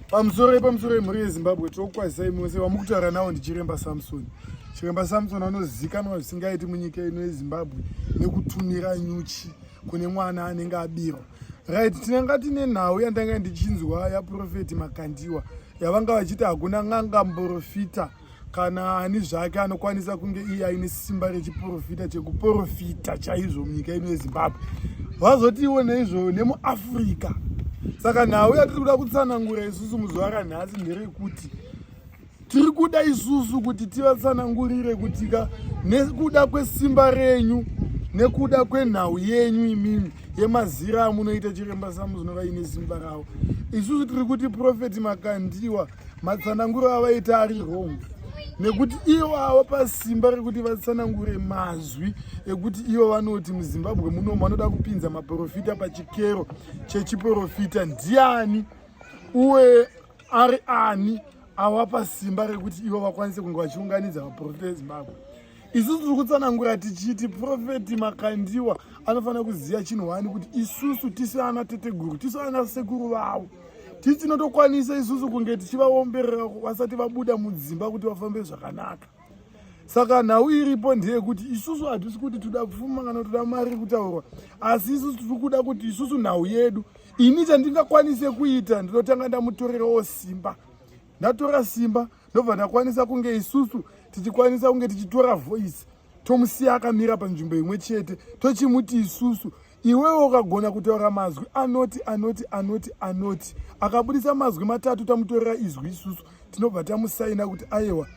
pamusoro yepamusoro yemhuri yezimbabwe tokukwazisai mose vamukutaura nawo ndichiremba samsoni chiremba samson anozikanwa zvisingaiti munyika ino yezimbabwe nekutumira nyuchi kune mwana anenge abirwa right tinanga tine nhau yandanga ndichinzwa yaprofeti makandiwa yavanga vachiti hakuna n'anga mborofita kana ani zvake anokwanisa kunge iye aine simba rechiprofita chekuprofita chaizvo munyika ino yezimbabwe vazotiwo neizvo nemuafrica saka nhau yatiri kuda kutsanangura isusu muzuva ranhasi nderekuti tiri kuda isusu kuti tivatsanangurire kuti ka nekuda kwesimba renyu nekuda kwenhau yenyu imimi yemazira amunoita chiremba samuzinova ine simba ravo isusu tiri kuti profeti makandiwa matsananguro avaita ari wrong nekuti ivo avo pasimba rekuti vatsanangure mazwi ekuti ivo vanoti muzimbabwe muno vanoda kupinza maprofita pachikero chechiprofita ndiani uye ari ani awapa simba rekuti ivo vakwanise kunge vachiunganidza vaprofita ezimbabwe isusu tiri kutsanangura tichiti profeti makandiwa anofanira kuziva chinhu wani kuti isusu tisi ana teteguru tisi ana sekuru vavo tisi tinotokwanisa isusu kunge tichivaomberera vasati vabuda mudzimba kuti vafambe zvakanaka saka nhau iripo ndeyekuti isusu hatisi kuti toda pfuma kana toda mari kutaurwa asi isusu tiri kuda kuti isusu nhau yedu ini chandingakwanise kuita ndinotanga ndamutorerawo simba ndatora simba ndobva ndakwanisa kunge isusu tichikwanisa kunge tichitora voice tomusiya akamira panzvimbo imwe chete tochimuti isusu iwewo ukagona kutaura mazwi anoti anoti anoti anoti akabudisa mazwi matatu tamutorera izwi isusu tinobva tamusaina kuti ayewa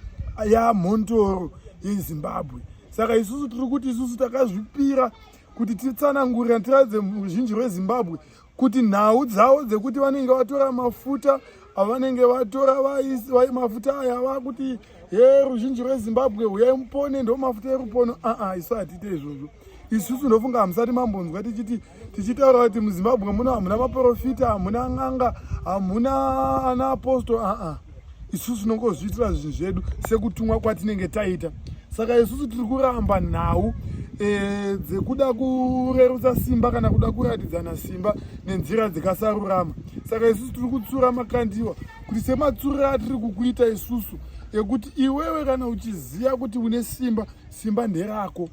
yamhontoro yezimbabwe saka isusu tiri kuti isusu takazvipira kuti titsanangurira tiradze ruzhinji rwezimbabwe kuti nhau dzavo dzekuti vanenge vatora mafuta avanenge vatora vai mafuta aya vakuti he ruzhinji rwezimbabwe huyai mupone ndo mafuta erupono aa isu hatiite izvozvo isusu ndofunga hamusati mambonzwa tichiti tichitaura kuti muzimbabwe muno hamuna maprofita hamuna n'anga hamuna ana aposto aa isusu tinongozviitira zvinhu zvedu sekutumwa kwatinenge taita saka isusu tiri kuramba nhau e, dzekuda kurerutsa simba kana kuda kuratidzana simba nenzira dzikasarurama saka isusu tiri kutsura makandiwa kuti sematsuriro atiri kukuita isusu ekuti iwewe kana uchiziva kuti une simba simba nderako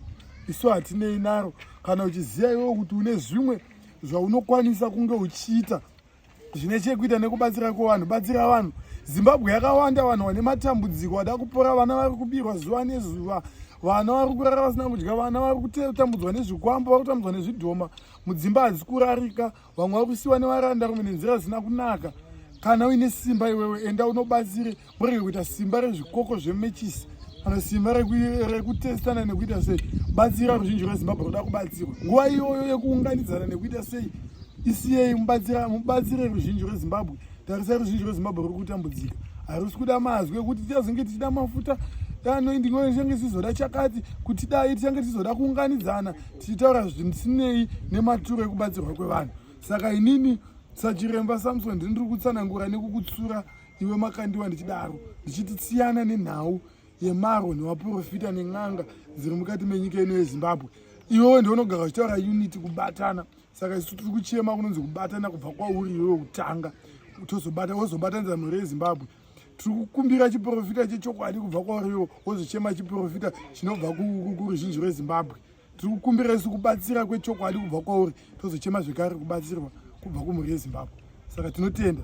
isu hatinei naro kana uchiziva iwewe kuti une zvimwe zvaunokwanisa kunge uchiita zvine chekuita nekubatsira kwevanhu batsira vanhu zimbabwe yakawanda vanhu vane matambudziko vada kupora vana vari kubirwa zuva nezuva vana vari kurara vasina kudya vana vari kutambudzwa nezvikwambo vari kutambudzwa nezvidhoma mudzimba hadzisi kurarika vamwe vari kusiwa nevaranda rume nenzira dzisina kunaka kana uine simba iwewe enda unobatsire murege kuita simba rezvikoko zvemechisi kana simba rekutestana nekuita sei batsira ruzhinji rwezimbabwe ruda kubatsirwa nguva iyoyo yekuunganidzana nekuita sei isiyei mubatsire ruzhinji rwezimbabwe tarisai ruzhinji rwezimbabwe ruri kutambudzika harusi kuda mazwi ekuti tichazenge tichida mafuta anoindingoechange tichizoda chakati kuti dai tichange tichizoda kuunganidzana tichitaura zvisinei nematuro ekubatsirwa kwevanhu saka inini sachiremba samson ndiniri kutsanangura nekukutsura iwe makandiwa ndichidaro ndichiti tsiyana nenhau yemaro nevaprofita nen'anga dziri mukati menyika ino yezimbabwe iwewe ndionogara uchitaura unity kubatana saka isu tiri kuchema kunonzi kubatana kubva kwauri iwewe kutanga tozobata wozobatanidza mhuri yezimbabwe tiri kukumbira chiprofita chechokwadi kubva kwauriwo wozochema chiprofita chinobva kuruzhinji rwezimbabwe tiri kukumbira isu kubatsira kwechokwadi kubva kwauri tozochema zvekare kubatsirwa kubva kumhuri yezimbabwe saka tinotenda